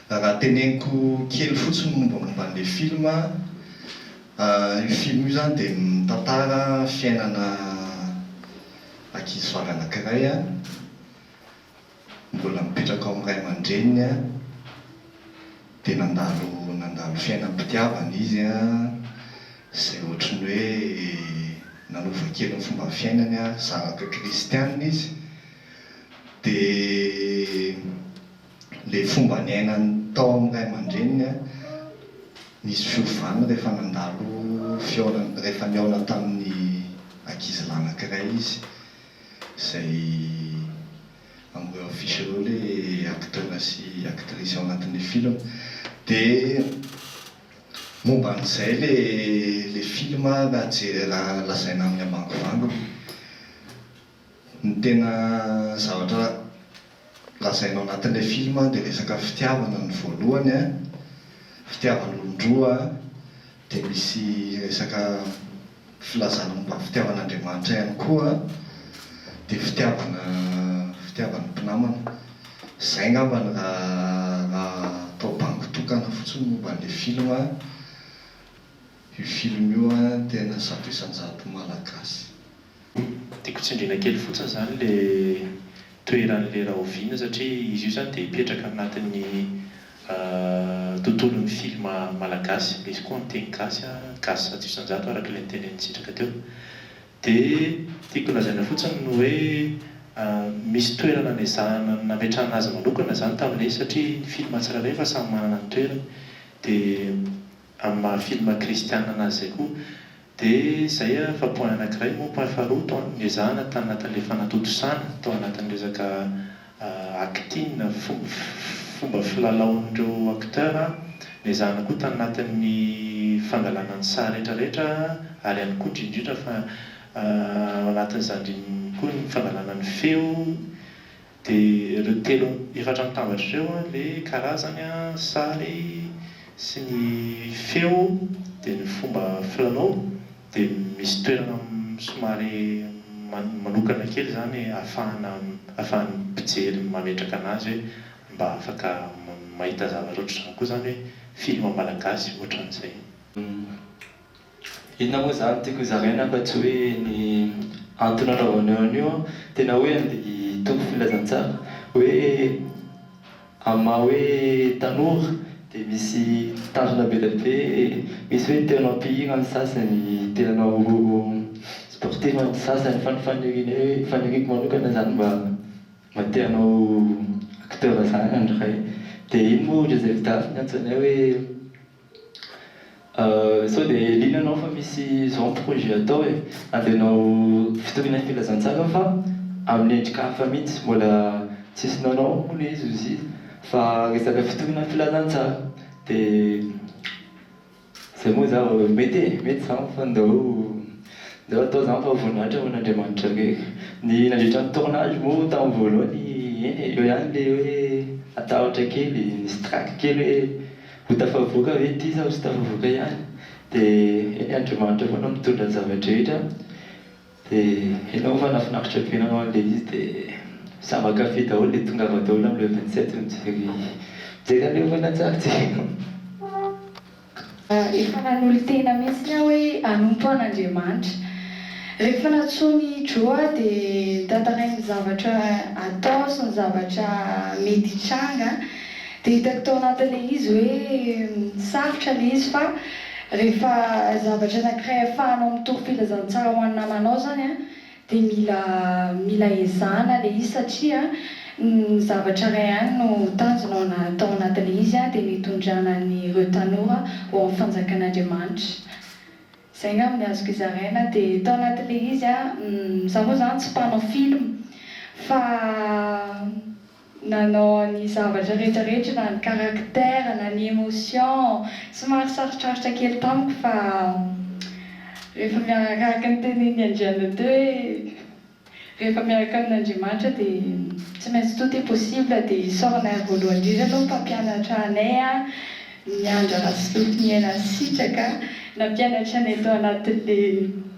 Raha teneniko kely fotsiny mombamomba an'ilay film, io film io izany dia mitantara fiainana ankizivavy anankiray. mbola mipetraka ao amin'ny ray aman-dreniny dia nandalo nandalo fiainam-pitiavana izy izay ohatry ny hoe nanova kely ny fomba fiainany, zanaka kristianina izy dia ilay fomba niainany tao amin'ny ray aman-dreniny nisy fiovana rehefa nandalo fihaonana rehefa nihaona tamin'ny ankizilahy anankiray izy izay amboy en fiche ireo le acteur sy actrice ao anatin'le film de momba an'izay le le film raha je raha lazaina amin'ny ambangovangony ny tena zavatra lazainao anatin'ilay film dia resaka fitiavana ny voalohany an, fitiavan'olon-droa dia misy resaka filazana momba ny fitiavan'Andriamanitra ihany koa dia fitiavana fitiavan'ny mpinamana. Izay angamba no raha atao bango tokana fotsiny momba an'ilay film an, io film io an tena zato isan-jato malagasy. Tiako tsindriana kely fotsiny izany le toeran'ilay rahoviana satria izy io izany dia hipetraka anatin'ny tontolon'ny film malagasy, misy koa miteny gasy an, gasy zato isan-jato araka ilay notenenin'i Sitraka teo. Dia tiako lazaina fotsiny ny hoe misy toerana nezahana nametrahana azy manokana izany tamin'ilay izy satria ny film tsirairay efa samy manana ny toerany dia amin'ny maha film kristiana anazy izay koa. Dia izay a fa point anakiray moa point faharoa tao ny ezahana tany anatin'ilay fanatontosana tao anatin'ny resaka acting fomba filalaon'ireo acteur a, ny ezahana koa tany anatin'ny fangalana ny saha rehetra rehetra ary ihany koa indrindra indrindra fa ao anatin'izany indrindra koa ny fangalana ny feo Dia ireo telo efatra mitambatra ireo, le karazany, sary sy ny feo dia ny fomba filalao dia misy toerana somary manokana kely izany ahafahana ahafahan'ny mpijery mametraka an'azy hoe mba afaka mahita zavatra ohatr'izany koa izany hoe film malagasy ohatran'izay. Inona moa izany tiako hozaraina fa tsy hoe ny antony anaovana eo an'io an, tena hoe andeha hitombo filazantsara hoe amin'ny maha hoe tanora dia misy tanjona be dia be, misy hoe te hanao mpihira ny sasany, te hanao sportif ny sasany fa ny faniriany hoe faniriako manokana izany mba mba te hanao acteur izany ny iray. Dia iny moa hoy indray izay vita afo ny antsoinay hoe. Sao dia liana anao fa misy zao ny projet atao e. Andeha hanao fitoriana ny filazantsara fa amin'ny endrika hafa mihitsy. Mbola tsisy nanao moa le izy ozy fa resaka fitoriana ny filazantsara. Dia zay moa za mety e, mety zany fa ndao ndao atao izany fa voninahitra ho an'Andriamanitra irery. Ny nandritra ny tournage moa tamin'ny voalohany eny e, eo ihany le hoe atahotra kely, nisy trac kely hoe. Ho tafavoaka ve ity sa ho tsy tafavoaka ihany? Dia Andriamanitra foana no mitondra ny zava-drehetra, dia enao fa nahafinaritra be nanao an'ilay izy dia samy ankafy daholo dia tongava daholo amin'ilay vingt sept mijery mijery an'ilay horonantsary tsy Efa nanolo-tena mihitsiny aho hoe hanompo an'Andriamanitra. Rehefa nantsoin' i Joe aho dia notantarainy ny zavatra atao sy ny zavatra mety hitranga. Dia hitako tao anatin'ilay izy hoe sarotra ilay izy fa rehefa zavatra anankiray ahafahanao mitory filazantsara ho an'ny namanao izany an, dia mila mila ezahana ilay izy satria ny zavatra iray ihany no tanjona ao ana tao anatin'ilay izy an, dia ny hitondrana an'ireo tanora ho amin'ny fanjakan'Andriamanitra. Izay angamba ny azoko izaraina. Dia tao anatin'ilay izy an, izaho moa izany tsy mpanao film fa. Nanao ny zavatra rehetra rehetra na ny caractère na ny emotion somary sarotrarotra kely tamiko fa rehefa miaraka araka ny tenin'i Andrianantoa hoe rehefa miaraka amin'Andriamanitra dia tsy maintsy tout est possible dia i Sœur Nair voalohany indrindra aloha mpampianatra anay Miandra Rasofinihena Sitraka nampianatra anay tao anatin'ilay